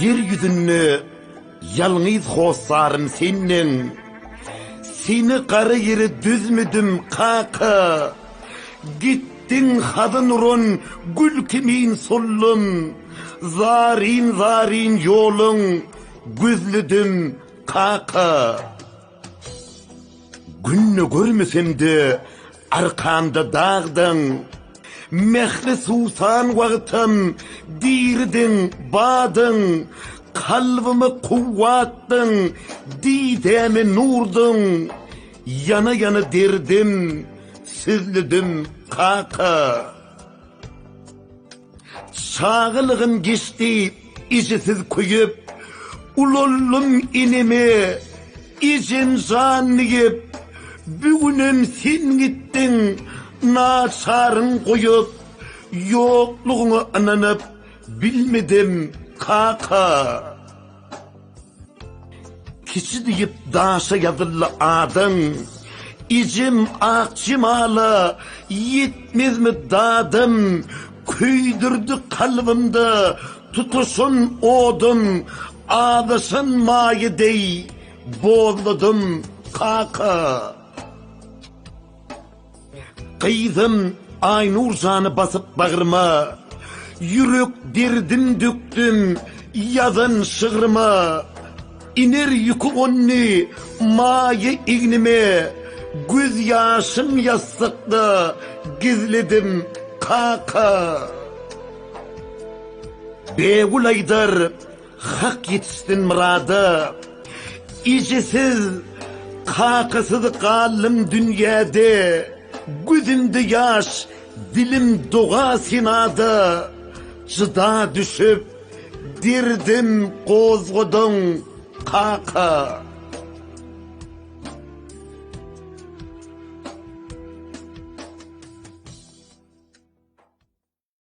Ýer ýüzünde ýalňyz hossarym senden. Seni gara ýere düzmedim, kaka. Gitdiň hazyn uran gül kimin sollum. Zaryn-zaryn ýoluň gözledim, kaka. Günde görmesem-de, arkamda dagdyň. Mähri suwsan wagtam diridiň, badyň. Kalbyma kuwwatdyň, didäme nurdyň. Ýana-ýana derdim sözledim, kaka. Çagalygym geçdi ejesiz köýüp, Ulaldym eneme, ejem jan diýip. Bu günem sen gitdiň naçarym goýup, Ýoklugyňa ynanyp bilmedim, kaka. Kiçi diýip daşa ýazyldy adyň, Ijim ak jemala ýetmezmi dadym, Köýdürdi kalbymda tutaşan odum, Azaşan maýa deý bozladym, kaka. Gyzym Aýnur jany basyp bagryma, Ýürek derdim dökdüm ýazan şygryma. Iner ýüki gondy maýa egnime, Göz ýaşym ýassykda gizledim kaka. Begül aýdar Hak ýetişsin myrada. Ejesiz, kakasyz galdym dünýäde, Gözümde ýaş, dilim doga senada. Jyda düşüp, derdim gozgadyň, kaka.